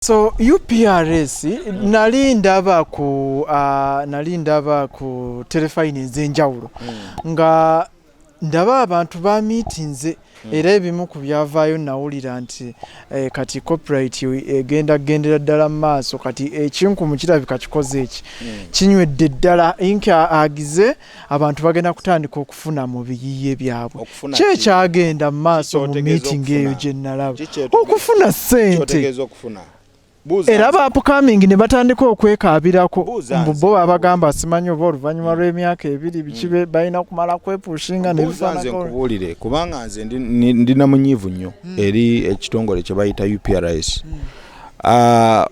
So UPRS nali ndaba ku uh, nali ndaba ku telefayini ez'enjawulo mm. nga ndaba abantu ba miitinze mm. era ebimu ku byavaayo nawulira nti eh, kati copyright egenda eh, gendera ddala mu maaso kati ekinkumu eh, kirabika kikoze eki mm. kinywedde ddala inki agize ah, abantu bagenda kutandika okufuna mu biyiye byabwe kyekyagenda mu maaso mu miitingi eyo gye nalaba okufuna ssente era ba upcoming ne batandika okwekaabirako mbu bo babagamba simanyi oba oluvannyuma mm. lw'emyaka ebiri biki mm. balina kumala kwepushinga nebifaanankubuulire kubanga nze ndi na munyiivu nnyo mm. eri ekitongole kye bayita upris ah,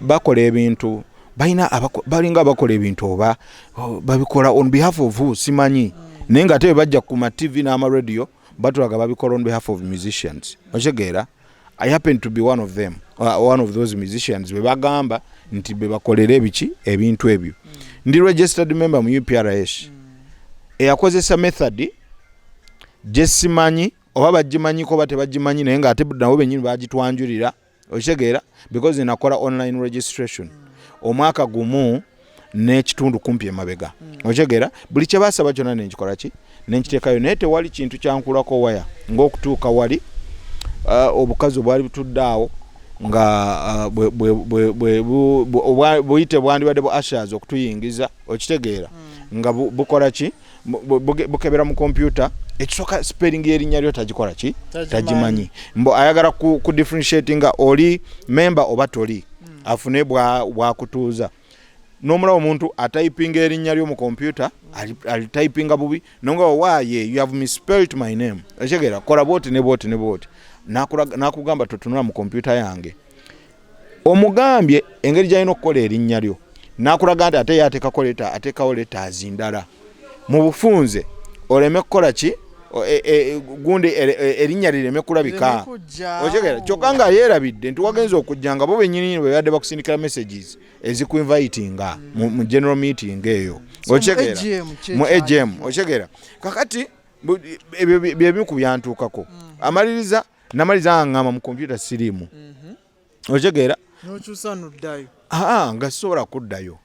bakola ebintu balina balinga abakola ebintu oba oh, babikola on behalf of who simanyi naye nga ate bajja ku ma tv n'amaradio batulaga babikola on behalf of musicians okitegeera i happen to be one of them uh, one of those musicians bebagamba nti bebakolera ebiki ebintu ebyo mm. ndi registered member mu uprs mm. eyakozesa method gyesimanyi oba bagimanyiko oba tebagimanyi naye nga ate nabo benyini bagitwanjulira okitegeera because nakola online registration omwaka gumu n'ekitundu kumpi emabega hmm. okitegeera buli kyebasaba kyona nenkikola ki nenkiteekayo naye tewali kintu kyankulako waya ngaokutuuka wali uh, obukazi obwali butudde awo nga uh, obuyite bwandibadde bu ashers okutuyingiza okitegeera hmm. nga bukola ki bukebera mu kompyuta ekisooka spelling yerinnya lyo tagikola ki tagimanyi mbu ayagala ku, ku differentiate nga oli memba oba toli hmm. afune bwakutuuza nomulaba omuntu atypinga erinnya lyo mu kompyuta alitypinga bubi nonga owaye you have misspelt my name ekitegeera kola bwoti ne bwoti ne bwoti nakugamba totunula mu kompyuta yange omugambye engeri gyalina okukola erinnya lyo nakulaga nti ate yatekako leta atekawo letazi ndala mu bufunze oleme kukola ki e, e, gundi e, erinnya lireme kulabika okitegeera kyokka nga yeerabidde nti wagenza okujja nga bo benyininyini bebadde bakusindikira messages ezikuinvitinga mu general meeting eyo okitegeera mu agm okitegeera kakati ebyo byebimu ku byantuukako hmm. amaliriza mm. namaliza nga ngamba mu kompyuta siriimu mhm. okitegeera nokyusa noddayo aa nga sisobola kuddayo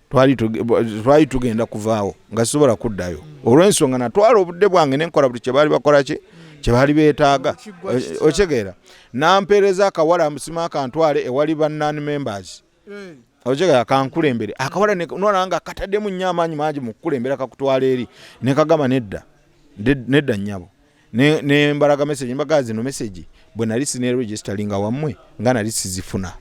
twali tugenda kuvaawo nga sisobola kuddayo mm. olw'ensonga natwala obudde bwange nenkola buli kyebaali bakola ki mm. kyebaali beetaaga okitegeera nampeereza akawala musima akantwale ewali ba non members ojega kankulembere akawala nona nga katademu nnyo amaanyi mangi mu kukulembera kakutwala eri nekagamba nedda nedda nnyabo nembalaga message mbagaa zino message bwe nali sineregisteringa wammwe nga nali sizifuna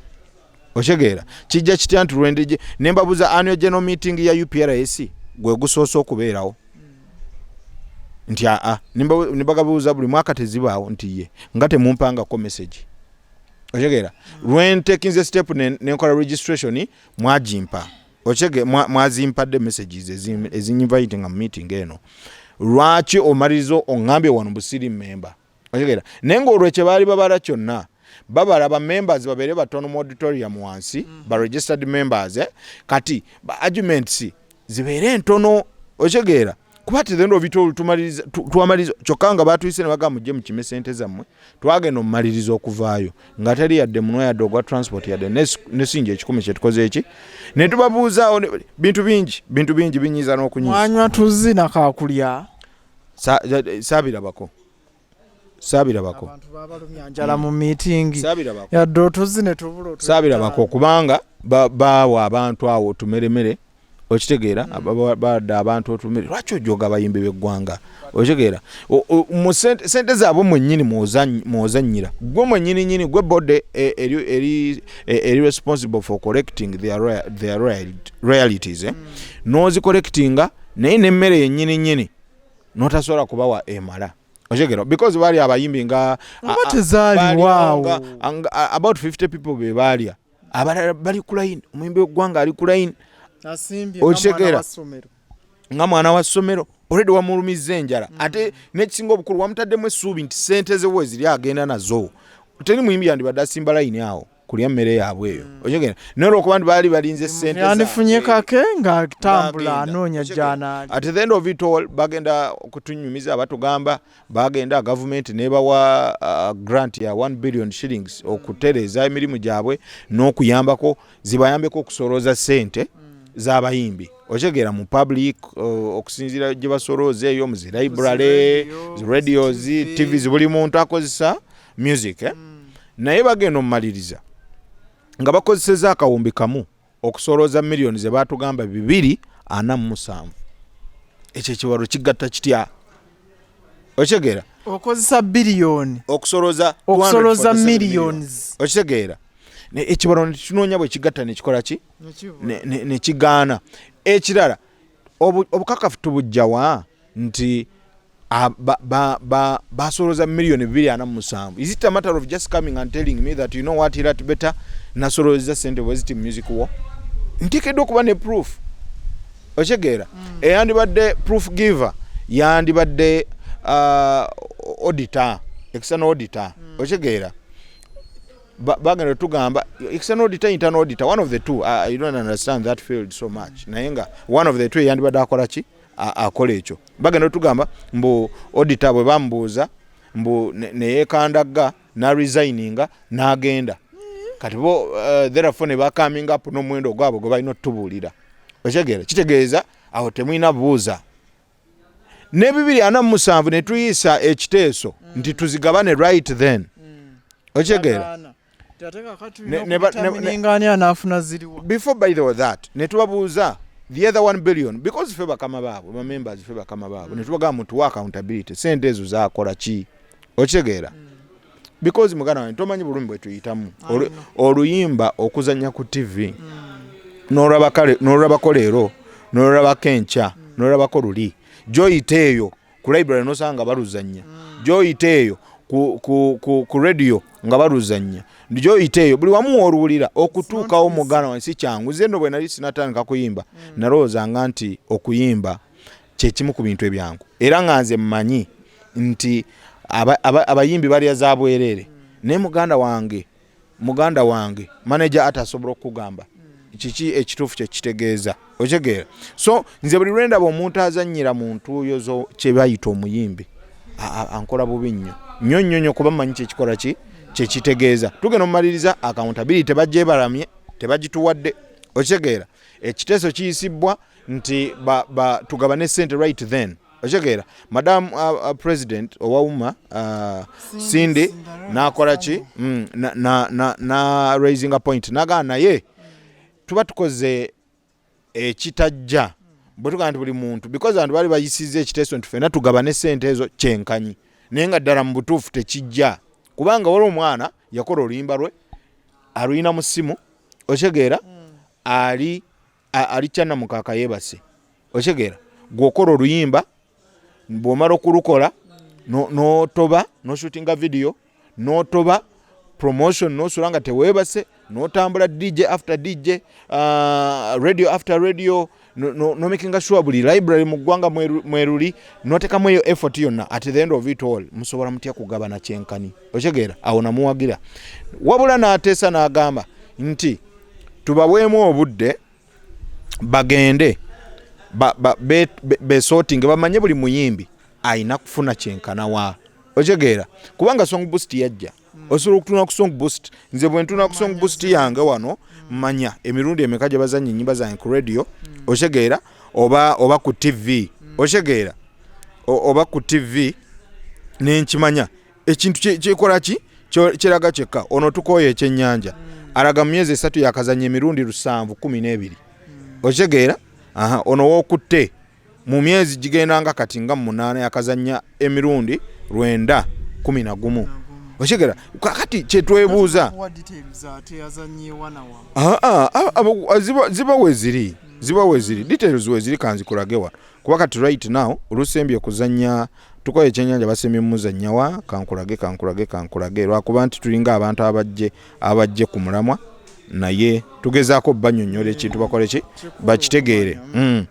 okitegeera kijja kitya nti lwendeje ne mbabuuza annual general meeting ya uprs gwe gusoose okubeerawo nti aa ne bagabuuza buli mwaka tezibaawo nti ye nga temumpangako message okitegeera lwentekinze step nenkola registration mwagimpa okitege mwazimpadde messages ezinyinvayite nga mumeeting eno lwaki omaliriza ongambye wano busiri memba okitegeera naye ngaolwo kyebaali babala kyonna babala ba members babeere batono mu auditorium wansi mm. ba registered members eh? kati ba arguments zibeere ntono okitegeera kuba tizendo obitolo tumaliriza twamaliriza kyokka nga baatuyise ne bagamba mujje mukime sente zammwe twagenda omumaliriza okuvaayo nga teri yadde munwa yadde ogwa transport yadde nesinja ekikumi kyetukoze eki ne tubabuuzaawo bintu bingi bintu bingi binyiiza n'okunywa tuzzi nakakulya saabirabako saabirabako yadde otuzi netubulosaabirabako kubanga baawa abantu awo otumeremere okitegeera hmm. bada abantu otumere lwaki ojoga abayimbi beggwanga okitegeera sente zaabwe mwenyini mwozanyira gwe mwenyini nyini gwe bode e, eri e, responsible for correcting their realities eh? hmm. nozicorrectinga naye nemmere yenyini nyini notasobola kubawa emala okigero because bali abayimbi nga about 50 people bebalya abalala bali kulaini omuyimbi wegwanga ali kulaini okitegeera nga mwana wa ssomero oledi wamulumizza enjala mm. ate nekisinga obukulu wamutaddemu essuubi nti sente ze weziri agenda nazo teri muyimbi yandibadde asimba layini awo kulya mmere yaabwe eyo mm. oyogera naye olwokuba nti baali balinze mm, sente yandifunye kake ng'atambula anoonya gyanaali at the end of it all bagenda okutunyumiza batugamba bagenda gavumenti nebawa uh, grant ya 1 billion shillings mm. okutereeza emirimu gyabwe n'okuyambako zibayambeko okusolooza sente z'abayimbi okitegeera mu public uh, okusinziira gye basolooza eyo mu zi library zi radios tv zibuli muntu akozesa music eh? mm. naye bagenda omumaliriza nga bakozeseza akawumbi kamu okusolooza miliyoni ze baatugamba bibiri ana mu musanvu ekyo ekiwalo kigatta kitya okitegeera okozesa biliyoni okusolooza okusolooza miliyoni okitegeera ekiwalo nekinoonya bwe kigatta nekikola ki nekigaana ekirala obukakafu tubujjawa nti Ah, basolooza million 247 is it a matter of just coming and telling me that you know what irat better nasoloozeza sente bweziti music wo ntekeddwa okuba ne proof okitegeera mm. eyandibadde proof giver yandibadde ah, auditor external auditor mm. okitegeera bagenda tugamba external auditor internal auditor one of the two ah, i don't understand that field so much naye nga one of the two eyandibadde akola ki akola ekyo bagenda otugamba mbu odita bwe bamubuuza mbu neyekandagga naresigninga nagenda kati bo uh, therefo ne bacoming up n'omuwendo ogwabwe gwe balina otutubuulira okitegeera kitegeeza awo temulina buuza ne bibiri ana mumusanvu ne tuyisa ekiteeso nti tuzigabane right then mm. okitegeera before by the way that netubabuuza the other one billion because fe bakama baabwe bamembers fe bakama baabwe mm. netubagamba mutuwa accountability sente ezo zakola ki okitegeera mm. because muganda wange tomanyi bulumi bwetuyitamu oluyimba okuzanya ku tv mm. nolabako leero nolabako enkya mm. nolabako luli gyoyita eyo ku library nosanga baluzannya gyoyita eyo ku, ku, ku, ku radio nga baluzannya gyoyita eyo buli wamu woluwulira okutuukawo muganda wange si kyangu nze no bwe nali sinatandika kuyimba mm. nalowoozanga nti okuyimba kyekimu ku bintu ebyangu era nga nze mmanyi nti abayimbi aba, aba balya za bwereere mm. naye muganda wange muganda wange manager ate asobola okukugamba kiki ekituufu kyekitegeeza okitegeera so nze buli lwendaba omuntu azanyira mu ntuuyo zo kyebayita omuyimbi ankola bubi nnyo nnyo nnyo nnyo kuba manyi kyekikola ki kyekitegeeza tugenda omumaliriza akawuntabiri tebagyebaramye tebagituwadde okitegeera ekiteeso kiyisibbwa nti tugabane sente right then okitegeera madam uh, uh, president owawuma uh, cindy nakola ki mm, na, na, na, na raising a point nagaa naye tuba tukoze ekitajja eh, bwetugaa nti buli muntu because abantu bali bayisiza ekiteeso nti fena tugaba ne sente ezo kyenkanyi naye nga ddala mu butuufu tekijja kubanga wali omwana yakola oluyimba lwe aluyina mu ssimu okitegeera mm. ali alikya namukaaka yebase okitegeera gweokola oluyimba bwomala okulukola notoba noshutinga vidiyo notoba promotion nosula nga tewebase notambula dj after dj uh, radio after radio nomakinga no sure buli library mu ggwanga mweruli notekamu eyo effort yonna at the end of it all musobola mutya kugabana kyenkani okitegeera awo namuwagira wabula n'ateesa n'agamba nti tubaweemu obudde bagende besotinge bamanye buli muyimbi alina kufuna kyenkana wa okitegeera kubanga song boost yajja hmm. osobola okutuna ku song boost nze bwentuna ku song boost yange wano hmm. manya emirundi emeka gye bazanya enyimba zange ku radio hmm. okitegeera oba oba ku tv okitegeera oba ku tv nenkimanya ekintu kyekola ki kiraga kyekka ono tukooya ekyenyanja hmm. alaga mu myezi esatu yakazanya emirundi lusanvu kumi n'ebiri hmm. okitegeera ono wokutte mu myezi gigenda nga kati nga munaana yakazanya emirundi lwenda kumi na gumu okitegeera kakati kyetwebuuza ziba weziri ziba weziri details weziri kanzikulagewa kuba kati right now olusembye okuzanya tukoye ekyenyanja basembye mumuzanyawa kankulage kankulage kankulage lwakuba nti tulinga abantu abajje abajje ku mulamwa naye tugezaako banyonyola ekintu bakoleki bakitegeere mm.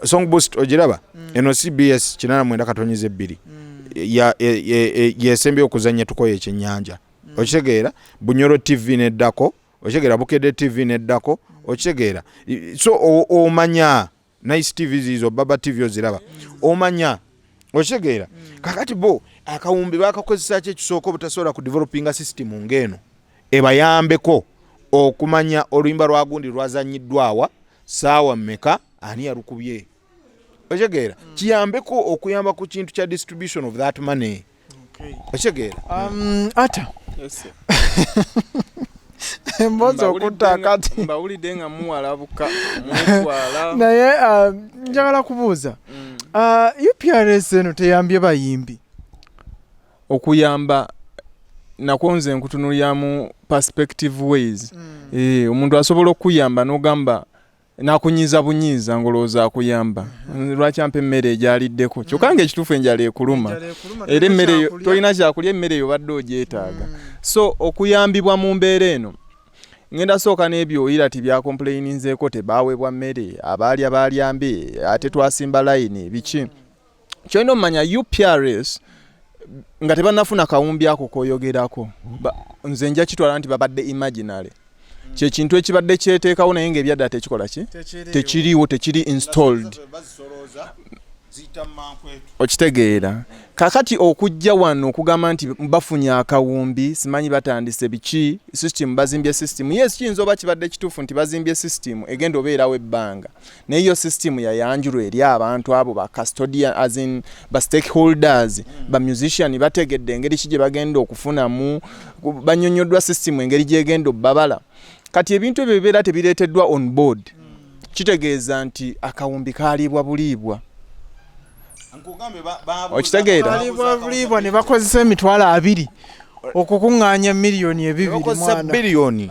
song boost ogiraba mm. eno cbs kinana mwenda katonyeza ebbiri mm. yesembye okuzanya tukoye ekyenyanja okitegeera bunyoro tv neddako okitegeera bukedde tv neddako okitegeera so omanya nice tv zizo baba tv oziraba omanya okitegeera kakati bo akawumbi bakakozesa ki ekisooka obutasobola ku developinga system ngaeno ebayambeko okumanya oluyimba lwa gundi lwazanyiddwawa saawa meka ani yalukubye okitegeera kiyambeko okuyamba ku kintu kya distribution of that money okitegeera um, ata emboozi okutta akati mbawulidde nga muwalabuka mwetwala naye uh, njagala kubuuza mm. uh, uprs eno teyambye bayimbi okuyamba nakwo nze nkutunulyamu perspective ways mm. eh, omuntu asobola okukuyamba nogamba nakunyiza bunyiza ngolowooza akuyamba lwaki ampa emmere egyaliddeko kyokka mm. nga ekituufu enjala ekuluma era emmere tolina kyakulya emmere eyo badde ogyetaaga mm. so okuyambibwa mu mbeera eno ngenda sooka n'ebyoyira ti byakompuleyininzeeko tebaawebwa mmere abaalya baalyambe ate twasimba layini biki kyolina omumanya uprs nga tebanafuna kawumbi ako koyogerako nze nja kitwala nti babadde imaginary kyekintu ekibadde kyeteekawo naye nga ebyaddala tekikola ki tekiriiwo tekiri installed okitegeera kakati okujja wano okugamba nti bafunye akawumbi simanyi batandise biki system bazimbye system yes kiyinza oba kibadde kituufu nti bazimbye system egenda obeerawo ebbanga naye yo system yayanjulwa eri abantu abo ba custodian as in ba stakeholders mm. ba musician bategedde engeri ki gye bagenda okufunamu banyonyoddwa system engeri gyegenda obbabala kati ebintu ebyo bibeera tebireeteddwa on board mm. kitegeeza nti akawumbi kaliibwa buliibwa okitegeera buliibwa ne bakozesa emitwalo abiri okukuŋŋaanya miliyoni ebibiri mwana biliyoni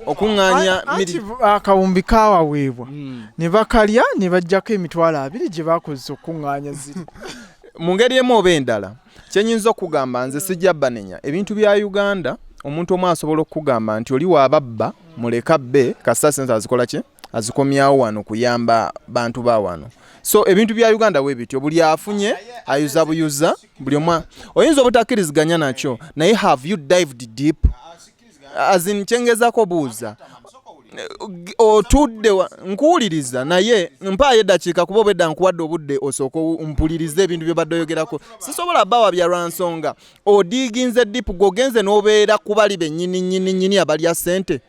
okuŋŋaanya akawumbi kaawaweebwa hmm. ne bakalya ne bajjako emitwalo abiri gye baakozesa okukuŋŋaanya ziri mu ngeri emu oba endala kyenyinza okugamba nze sijja banenya ebintu bya uganda omuntu omu asobola okukugamba nti oli wababba muleka bbe kasita sente azikola ki azikomyawo wano kuyamba bantu ba wano so ebintu bya uganda we bityo buli afunye ayuza buyuza buli omwa oyinza obutakkiriziganya nakyo naye have you dived deep azin kyengezako buuza otudde nkuwuliriza naye mpaayo eddakiika kuba obwedda nkuwadde obudde osooka mpuliriza ebintu byobadde oyogerako sisobola bawa bya lwa nsonga odiiginze dipu gwogenze n'obeera ku bali bennyini nyini nyini abalya ssente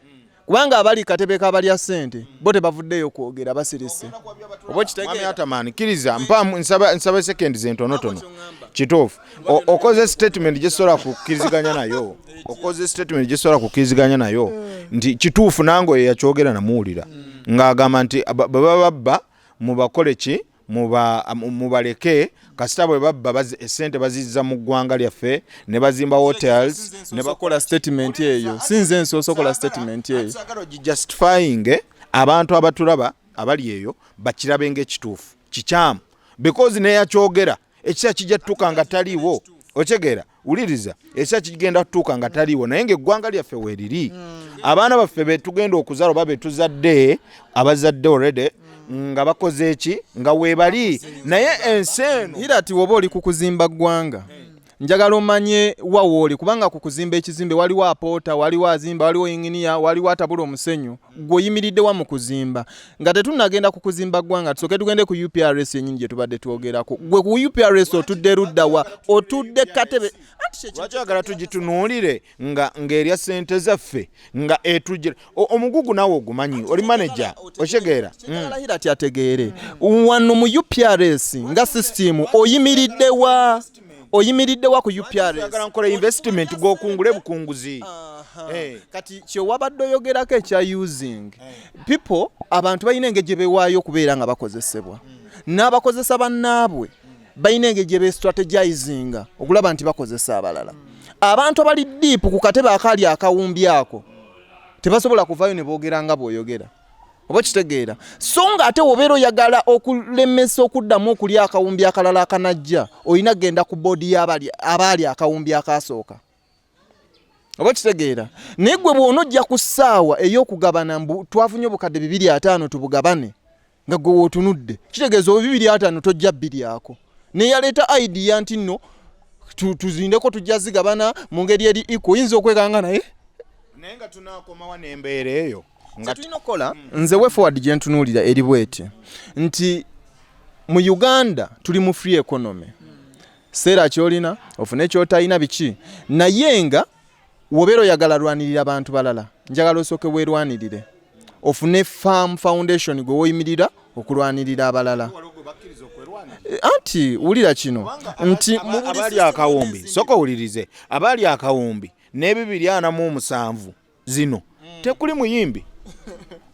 kubanga abali katebe kabalya sente bo tebavuddeyo kwogera basirise oba okitegeera nsaba sekendi zentonotono kituufu okoze statement gyesobola kukkiriziganya nayo okoze statement gyesobola kukkiriziganya nayo hmm. nti kituufu nange oyo yakyogera namuwulira hmm. ng'agamba nti baba babba mubakole ki mubaleke kasita bwe babba esente bazizza mu ggwanga lyaffe ne bazimba hotels ne bakola statement eyo si nze nsoosokola statement eyo justifying eh, abantu abatulaba abali eyo bakirabe ngaekituufu kikyamu because neyakyogera ekiseera kijja tutuuka nga taliiwo otegeera wuliriza ekiseera kigenda kutuuka nga taliiwo naye ngaeggwanga lyaffe weeriri mm. abaana baffe betugenda okuzaala oba betuzadde abazadde oredi mm. nga bakoze eki nga webali naye ensi eno ira ti woba oli kukuzimba ggwanga njagala omanye wawooli kubanga ku kuzimba ekizimbe waliwo apoota waliwo azimba waliwo inginiya waliwo atabula omusenyu gweoyimiriddewa mu kuzimba nga tetunnagenda ku kuzimba ggwanga tusooke tugende ku uprs yennyini gye tubadde twogerako gwe ku uprs otudde luddawa otudde katebe lwaki oyagala tugitunuulire nga ng'erya ssente zaffe nga etujira omugugu naawe ogumanyi oli maneja okitegeera alahira ti ategeere wano mu uprs nga sisitimu oyimiriddewa oyimiridde wa ku upragala nkola investment gwokungule bukunguzi eh. kati kyewabadde oyogerako ekya using eh. people abantu balina engeri gye bewaayo okubeera nga bakozesebwa hmm. n'abakozesa bannaabwe hmm. balina engeri gye bestrategizinga okulaba nti bakozesa abalala hmm. abantu abali diipu ku katebe akaali akawumbi ako tebasobola kuvaayo ne boogera nga bw'oyogera oba kitegeera so nga ate wobeera oyagala okulemesa okuddamu okulya akawumbi akalala akanajja olina kugenda ku boodi y'abaali akawumbi akaasooka oba kitegeera naye gwe bwona ojja ku ssaawa ey'okugabana mbu twafunye obukadde bibiri ataano tubugabane nga gwe wootunudde kitegeeza oba bibiri ataano tojja bbiryako neyaleeta idea nti nno tuzindeko tujja zigabana mu ngeri eri iko oyinza okwekanga naye naye nga tunakomawa nembeera eyo kyetulina okukola nze way forward gyentunuulira eri bweti nti mu uganda tuli mu free economy seera kyolina ofune kyotalina biki naye nga wobeera oyagala lwanirira bantu balala njagala osooke werwanirire ofune farm foundation gwe woyimirira okulwanirira abalala eh, anti wulira kino nti abaali akawumbi soka owulirize abaali akawumbi n'ebibiri anamu omusanvu zino mm. tekuli muyimbi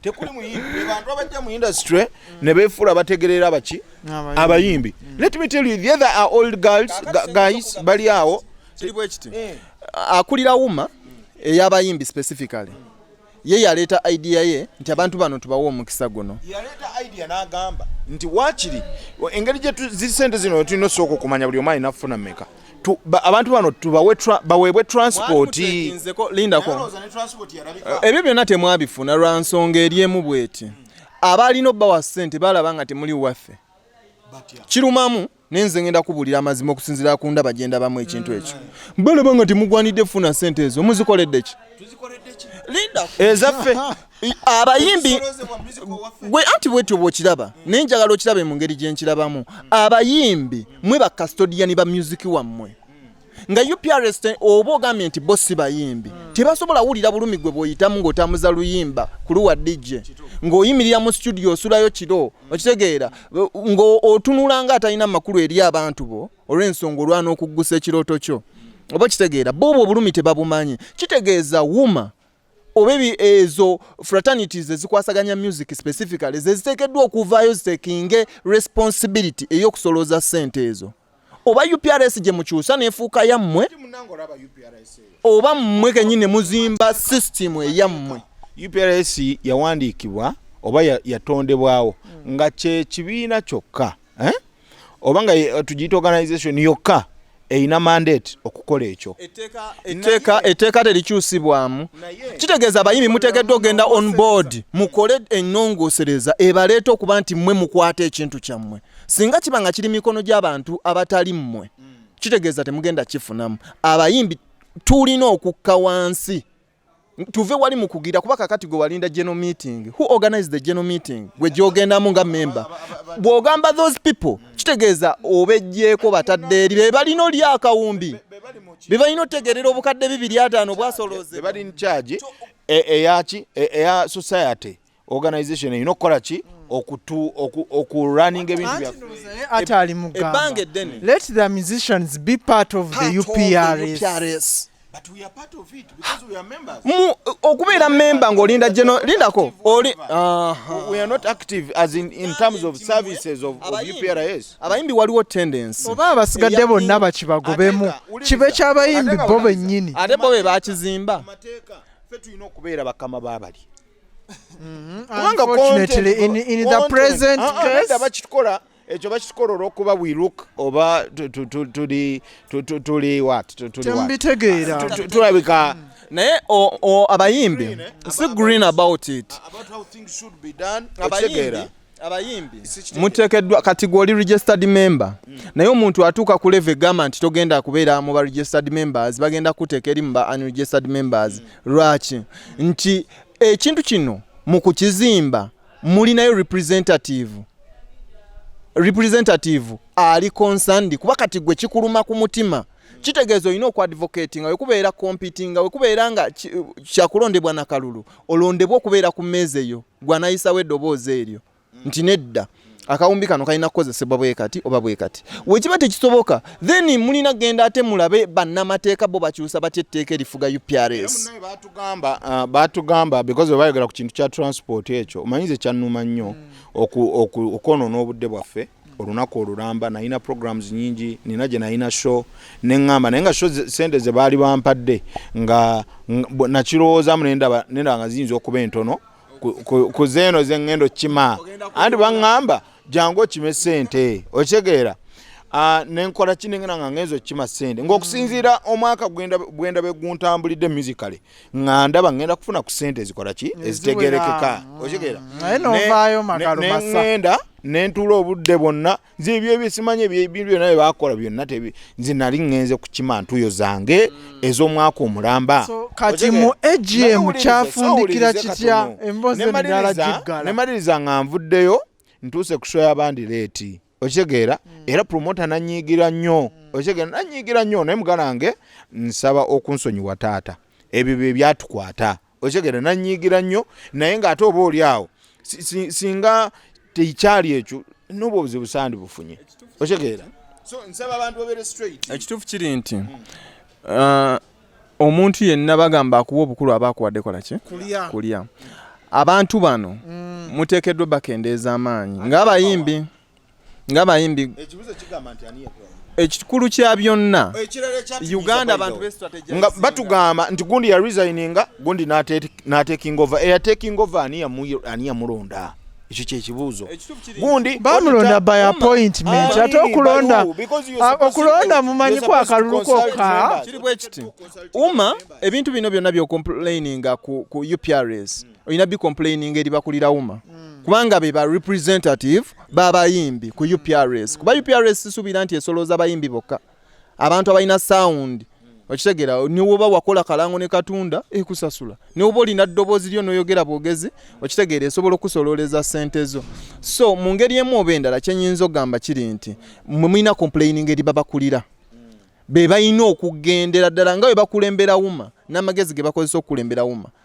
tekuli muyimbi abantu abajja mu industry mm. ne befuula bategerera baki abayimbi mm. let me tell you the other are old girls guys bali awo eh. akulira wuma eyabayimbi specifically ye yaleeta idea ye nti abantu bano tubawa omukisa guno yaleeta idea n'agamba nti waakiri engeri gye sente zino tulina osooka okumanya buli omu alina kufuna meka abantu bano baweebwe transport lindako ebyo byonna temwabifuna lwa nsonga eri emu bweti abaalina obbawa ssente balaba nga temuli waffe kirumamu naye nze ngenda kubuulira amazima okusinziira ku ndaba gye ndabamu ekintu ekyo mm. balaba nga temugwanidde funa ssente ezo muzikoleddeki ezaffe abayimbi gwe anti bwetyo bwokiraba naye njagala okirabe mu ngeri gyenkirabamu abayimbi mwe ba custodian ba musiki wammwe nga uprs oba ogambye nti bo si bayimbi hmm. tebasobola wulira bulumi gwe bwoyitamu ng'otambuza luyimba kuluwa dj ng'oyimirira mu studio osulayo kiro hmm. okitegeera ng'otunula nga atalina makulu eri abantu bo olw'ensonga olwana okuggusa ekirooto kyo hmm. oba okitegeera boobwo obulumi tebabumanyi kitegeeza wuma oba ezo fraternities ezikwasaganya music specifically zeziteekeddwa okuvaayo zitekinge responsibility ey'okusolooza ssente ezo oba uprs gye mukyusa nefuuka yammwe oba mmwe kenyini muzimba system eyammwe uprs yawandiikibwa oba yatondebwawo nga kyekibiina kyokka eh? oba nga eh, tugiyita organization yokka erina mandate okukola ekyo etteeka terikyusibwamu kitegeeza abayimbi muteekeddwa okugenda on board mukole ennongoosereza ebaleeta okuba nti mmwe mukwata ekintu kyammwe singa kiba nga kiri mikono gy'abantu abatali mmwe mm. kitegeeza temugenda kifunamu abayimbi tulina okukka wansi tuve wali mukugira kuba kakati gwe walinda general meeting who organized the general meeting gwe gyogendamu nga member bwogamba those people kitegeeza obejjeeko batadde eri be balina oli akawumbi be balina otegerera obukadde bibiri ataano bwasolooze eyaki eya society organization erina okukola ki okurunning ebintu byaebbanga eddene let the musicians be part of the uprs okubeera memba ngaolinda geno lindako oli abayimbi waliwo tendensi oba abasigadde bonna bakibagobemu kibe kyabayimbi bo bennyini ate bo be bakizimba fe tulina okubeera bakama babali mm-hmm. kubanga ah, ah, bakitukola ekyo bakitukola olwokuba we look oba tuli wat tulabika naye abayimbi si green about it ah, abayimbi abayimbi mutekeddwa kati gwoli registered member mm. naye omuntu atuuka ku leve gamba nti togenda kubeera mu ba registered members bagenda kuteeka eri mu ba unregistered members mm. lwaki nti ekintu kino mu kukizimba mulinayo representative representative ali concerned kuba kati gwe kikuluma ku mutima kitegeeza olina okuadvocati nga wekubeera competinga wekubeera nga kyakulondebwa nakalulu olondebwa okubeera ku meeza eyo gwe anayisawo eddoboozi eryo nti nedda akawumbi kano kalina kukozesebwa bwe kati oba bwe kati wekiba tekisoboka then mulina genda ate mulabe bannamateeka bo bakyusa batya etteeka erifuga uprs uh, batugamba because webayogera ku kintu kya transport ekyo omanyize kyannuma nnyo hmm. okwonona obudde bwaffe olunaku olulamba nalina programs nyingi nina gye nalina show neŋŋamba naye nga show sente ze baali bampadde nga nakirowoozaamu nendaba nga ziyinza okuba entono ku zeeno ze ŋŋenda okukima anti baŋŋamba jangu okime sente okitegeera ah, nenkola ki nengenda nga ngenza okukima sente ngaokusinziira omwaka bwenda beguntambulidde musically nga ndaba ŋŋenda kufuna ku ssente ezikola ki ezitegerekeka mm. okitegeera naye novaayo magalumasaŋŋenda ne ntuula obudde bwonna nze ebyo ebisimanyi ebintu byonna bye bakola byonna tebi nze nali ŋŋenze ku kima ntuyo zange mm. ez'omwaka omulamba kati mu agm kyafundikira kitya emboozi endala giggala nemaliriza nga nvuddeyo ntuuse ku sho y'abandi leeti okitegeera mm. era promota nanyiigira nnyo mm. okitegeera nanyiigira nnyo naye muganda wange nsaba okunsonyiwa taata ebyo bye byatukwata okitegeera nanyiigira nnyo naye ng'ate oba oli awo singa tekyali ekyo noba obuzibu sandi bufunye okitegeera ekituufu kiri nti mm. uh, omuntu yenna bagamba akuwa obukulu aba akuwadde kola ki kulya abantu bano mm. muteekeddwa bakendeeza amaanyi ng'abayimbi ng'abayimbi ekikulu kya byonna uganda abantu nga batugamba nti gundi ya resigninga gundi n'atekinga ova eyatekinga ova ani yamulonda ekyo kyekibuuzo gundi bamulonda by appointment ate okulonda okulonda mumanyi ku akalulu kokka kiri bwe kiti uma ebintu bino byonna byokomplaininga ku, ku uprs hmm. olina bicomplaininga eri bakulira uma hmm. kubanga be ba representative babayimbi ku uprs kuba uprs sisuubira nti esolooza bayimbi bokka abantu abalina sound okitegera niwoba wakola kalango ne katunda ekusasula niwoba olina ddoboozi lyo noyogera bwogezi okitegeera esobola okukusololeza sente zo so mu ngeri emu oba endala kyenyinza okugamba kiri nti mulina complaining eri babakulira be balina okugendera ddala nga bwe bakulembera wuma n'amagezi ge bakozesa okukulembera wuma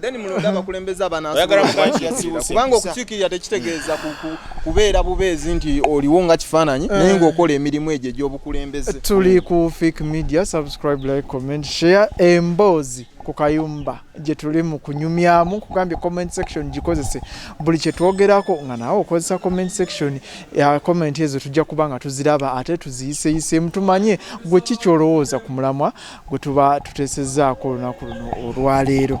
then mulonde abakulembeze abanakubanga okukiikirira tekitegeeza kubeera bubeezi nti oliwo nga kifaananyi eh. naye ngaokola emirimu egyo egyobukulembeze tuli ku fik media subscribe like comment share emboozi ku kayumba gye tuli mu kunyumyamu kugambye comment section gikozese buli kye twogerako nga nawe okozesa comment section ya comment ezo tujja kuba nga tuziraba ate tuziyiseyiseemu tumanye gwe ki kyolowooza ku mulamwa gwe tuba tuteesezaako olunaku luno olwaleero